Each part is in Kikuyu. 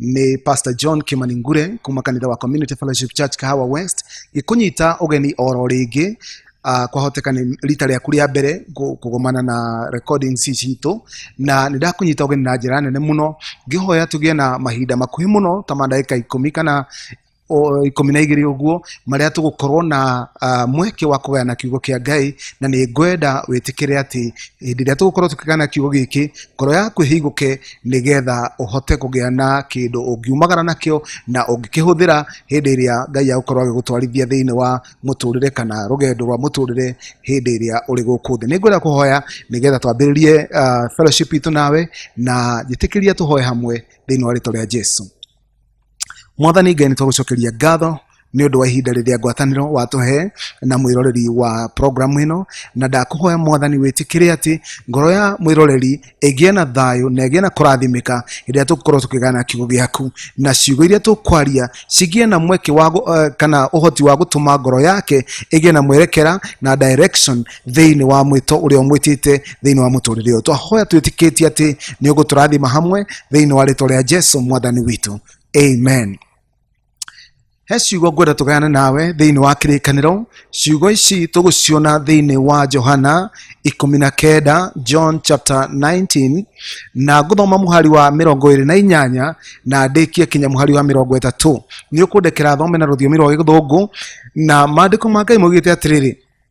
nĩ pastor john kimani ngure kuma kanitha wa community fellowship church kahawa west gĩkũnyita ũgeni oro rĩngĩ Uh, kwahoteka nĩ rita rĩaku rĩa mbere kũ- kũgomana na recordings ici citũ na nĩ ndakũnyita ũgeni na njĩra nene mũno ngĩhoya tũgĩe na mahinda makuhĩ mũno ta mandagĩka ikũmi kana o ikũmi na igĩrĩ ũguo marĩa tũgũkorwo na ah, mweke wa kũgayana kiugo kĩa ngai na nĩ ngwenda wĩtĩkĩre atĩ hĩndĩ ĩrĩa tũgũkorwo tũkĩgayana kiugo gĩkĩ ngoro yaku ĩhingũke nĩgetha ũhote kũgĩa na kĩndũ ũngiumagara nakĩo na ũngĩkĩhũthĩra hĩndĩ ĩrĩa ngai agũkorwo agĩgũtwarithia thĩinĩ wa mũtũrĩre kana rũgendo rwa mũtũrĩre hĩndĩ ĩrĩa ũrĩ gũkũ thĩ nĩ ngwenda kũhoya nĩgetha twambĩrĩrie ah, fellowship itũ nawe na njĩtĩkĩria tũhoe hamwe thĩinĩ wa rĩtwa rĩa jesu mwathani ngai nĩ twagũcokeria ngatho nĩ ũndũ wa ihinda rĩrĩa ngwatanĩro watũhe na mwĩroreri wa programu ĩno na ndakũhoya mwathani wĩtĩkĩre atĩ ngoro ya mwĩroreri ĩgĩe na thayũ na ĩgĩe na kũrathimĩka rĩrĩa tũgũkorwo tũkĩgana kiugo gĩaku na ciugo iria tũkwaria cigĩe na mweke wa gũ- eh, kana ũhoti wa gũtũma ngoro yake ĩgĩe na mwerekera na direction thĩinĩ wa mwĩto ũrĩa ũmwĩtĩte thĩinĩ wa mũtũrĩre ũyũ twahoya twĩtĩkĩtie atĩ nĩ ũgũtũrathima hamwe thĩinĩ wa rĩtwa rĩa jesu mwathani witũ amen he ciugo ngwenda tũgayane nawe thĩinĩ wa kĩrĩkanĩro ciugo ici tũgũciona thĩinĩ wa johana ikũmi na kenda john chapter 19 na ngũthoma mũhari wa mĩrongo ĩrĩ na inyanya na ndĩkie kinya mũhari wa mĩrongo ĩtatũ nĩ ũkũndekera thome na rũthiomi rwa gĩthũngũ na maandĩko ma ngai maugĩte atĩrĩrĩ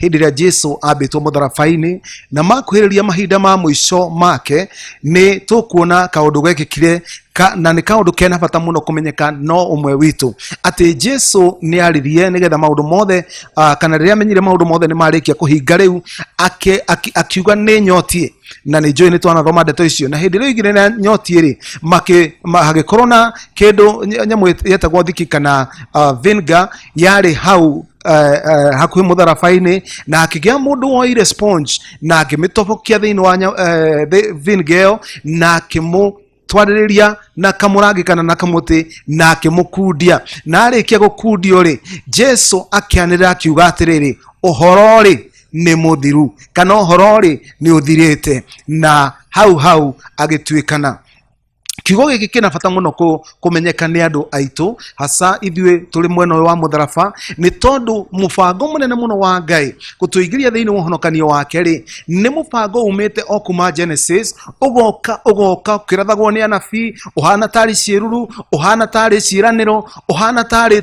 hĩndĩ ĩrĩa jesu ambĩtwo mũtharabai-inĩ na makuhĩrĩria mahinda ma mũico make nĩ tũkuona kaũndũ gekĩkire ka, na nĩ kaũndũ kena bata mũno kũmenyeka no ũmwe witũ atĩ jesu nĩ aririe nĩgetha maũndũ mothe uh, kana rĩrĩa amenyire maũndũ mothe nĩ marĩkia kũhinga rĩu ake- aki- akiuga nĩ nyotie na nĩ njũĩ nĩ twanathoma ndeto icio na hĩndĩ ĩrĩa oigire na nyotie rĩ makĩ- ma- hagĩkorwo na kĩndũ ny- nyamũ yetagwo thiki kana uh, vinga yarĩ hau eh, eh, hakuhĩ mũtharaba-inĩ na hakĩgĩa mũndũ woire sponge na akĩmĩtobokia thĩinĩ wa nya- eh, thĩ- vinegar ĩyo na akĩmũtwarĩrĩria na kamũrangi kana na kamũtĩ na akĩmũkundia na arĩkia gũkundio rĩ jesu akĩanĩrĩra akiuga atĩrĩrĩ ũhoro rĩ nĩ mũthiru kana ũhoro rĩ nĩ ũthirĩte na hau hau agĩtuĩkana kiugo gĩkĩ kĩna bata mũno kũ- kũmenyeka nĩ andũ aitũ hasa ithuĩ tũrĩ mwena ũyũ wa mũtharaba nĩ tondũ mũbango mũnene mũno wa ngai gũtũingĩria thĩinĩ wa ũhonokanio wake rĩ nĩ mũbango umĩte o kuma genesis ũgoka ũgoka ũkĩrathagwo nĩ anabii ũhana tarĩ ciĩruru ũhana tarĩ ciĩranĩro ũhana tarĩ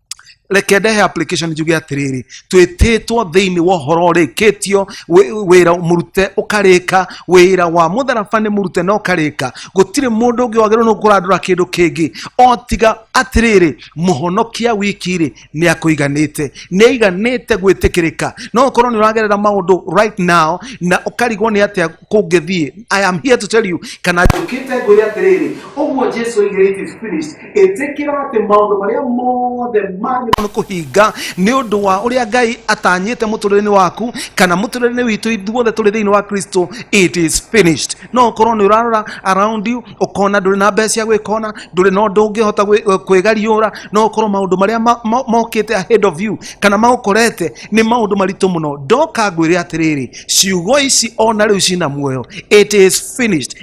reke ndehe application njuge atiriri twititwo thiini wa horo urikitio wira murute ukarika wira wa mutharaba ni murute na ukarika gutiri mundu ungi wagirwo ni kurandura kindu kingi o tiga atiriri muhonokia wiki ri ni akuiganite ni aiganite gwitikirika no ukorwo ni uragerera maundu right now na ukarigwo ni atia kungithie i am here to tell you kana njukite ngwire atiriri uguo jesu oigire it is finished ĩtĩkĩra atĩ maũndũ marĩa mothe manyu nĩ kũhinga nĩ ũndũ wa ũrĩa ngai atanyĩte mũtũrĩre-inĩ waku kana mũtũrĩre-inĩ witũ ithuothe tũrĩ thĩinĩ wa kristo it is finished no ũkorwo nĩ ũrarora around you ũkona ndũrĩ na mbeca cia gwĩkona ndũrĩ na ũndũ ũngĩhota gwĩ- kwĩgariũra no ũkorwo maũndũ marĩa ma- ma- mokĩte ahead of you kana maũkorete nĩ maũndũ maritũ mũno ndoka ngwĩre atĩrĩrĩ ciugo ici ona rĩu cina muoyo it is finished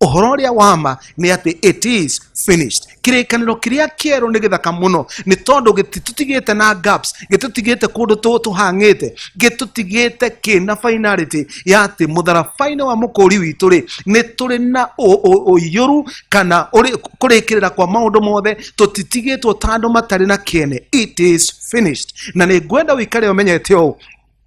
ũhoro ũrĩa wa ma nĩ atĩ it is finished kĩrĩkanĩro kĩrĩa kĩerũ nĩ gĩthaka mũno nĩ tondũ gĩtitutigĩte na gaps gĩtũtigĩte kũndũ tũ- tũhang'ĩte gĩtũtigĩte kĩna finality ya atĩ mũtharabainĩ wa mũkũri witũ rĩ nĩ tũrĩ na ũ- ũ- ũiyũru kana ũrĩ- kũrĩkĩrĩra kwa maũndũ mothe tũtitigĩtwo ta andũ matarĩ na kĩene it is finished na nĩ ngwenda ũikare ũmenyete ũũ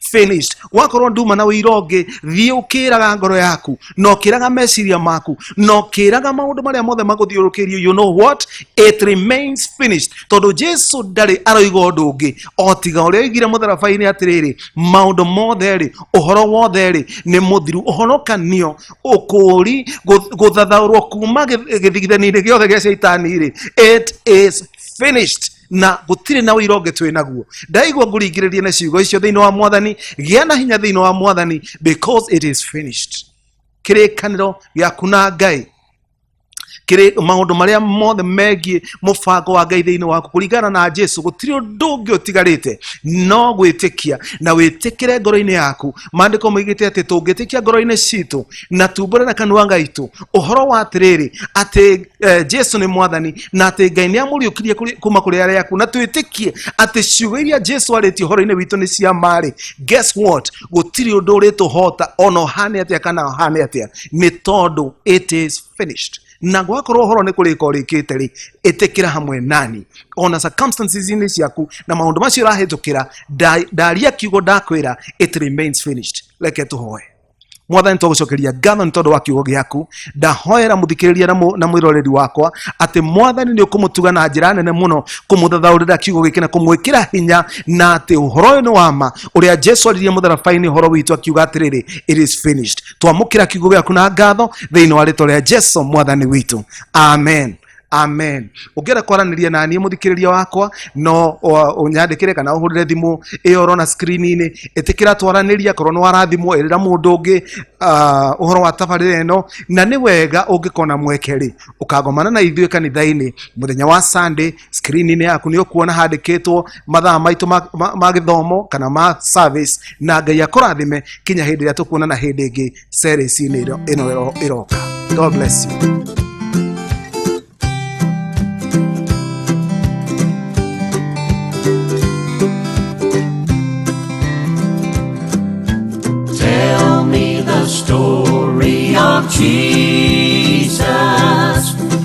finished wakorwo nduma na wĩira ũngĩ thiĩ ũkĩraga ngoro yaku na ũkĩraga meciria maku na ũkĩraga maũndũ marĩa mothe magũthiũrũkĩirio you know what it remains finished tondũ jesu ndarĩ aroiga ũndũ ũngĩ o tiga ũrĩa oigire mũtharabai-inĩ atĩrĩrĩ maũndũ mothe rĩ ũhoro wothe rĩ nĩ mũthiru ũhonokanio ũkũũri gũ- gũthathaũrwo kuma gĩth- gĩthigithani-inĩ gĩothe gĩa caitani rĩ it is finished na gũtirĩ na ũira ũngĩ twĩ naguo ndaigua ngũringĩrĩrie na ciugo icio thĩinĩ wa mwathani gĩa na hinya thĩinĩ wa mwathani because it is finished kĩrĩkanĩro gĩaku na ngai kĩrĩ maũndũ marĩa mothe megiĩ mũbango wa ngai thĩinĩ waku kũringana na jesu gũtirĩ ũndũ ũngĩ ũtigarĩte no gwĩtĩkia na wĩtĩkĩre ngoro-inĩ yaku maandĩko moigĩte atĩ tũngĩtĩkia ngoro-inĩ citũ na tumbũre na kanua gaitũ ũhoro wa atĩrĩrĩ atĩ eh, jesu nĩ mwathani na atĩ ngai nĩ amũriũkirie kũrĩ- kuma kũrĩ arĩa aku na twĩtĩkie atĩ ciugo iria jesu arĩtie ũhoro-inĩ witũ nĩ cia marĩ guess what gũtirĩ ũndũ ũrĩtũhota ona ũhane atĩa kana ũhane atĩa nĩ tondũ it is finished na gwakorwo horo nä kå rä ka å rä kä te rä ä tä kä ra hamwe nani ona circumstances-inĩ ciaku na maå ndå macio ũrahä tå kä ra ndaria kiugo ndakwä ra it remains finished reke tå hoe mwathani twa gucokeria ngatho nĩ tondũ wa kiugo gĩaku ndahoera mũthikĩrĩria na mũ- na mwĩroreri wakwa atĩ mwathani nĩ ũkũmũtuga na njĩra nene mũno kũmũthathaũrĩra kiugo gĩkĩ na kũmwĩkĩra hinya na atĩ ũhoro ũyũ nĩ wama ũrĩa jesu aririe mũtharabai-inĩ ũhoro witũ akiuga atĩrĩrĩ it is finished twamũkĩra kiugo gĩaku na ngatho thĩinĩ wa rĩtwa rĩa jesu mwathani witũ amen amen ũngĩenda kwaranĩria na niĩ mũthikĩrĩria wakwa no ũ- ũnyandĩkĩre kana ũhũrĩre thimũ ĩyo ũrona screen-inĩ ĩtĩkĩra twaranĩria korwo nĩ warathimwo ĩrĩra mũndũ ũngĩ ah, ũhoro wa tabarĩra ĩno na nĩ wega ũngĩkona mweke rĩ ũkagomana na ithuĩ kanitha-inĩ mũthenya wa sunday screen-inĩ yaku nĩ ũkuona handĩkĩtwo mathaa maitũ ma- ma- ma gĩthomo kana ma service na ngai akũrathime kinya hĩndĩ ĩrĩa tũkuonana hĩndĩ ĩngĩ series-inĩ ĩno ĩno ĩroka god bless you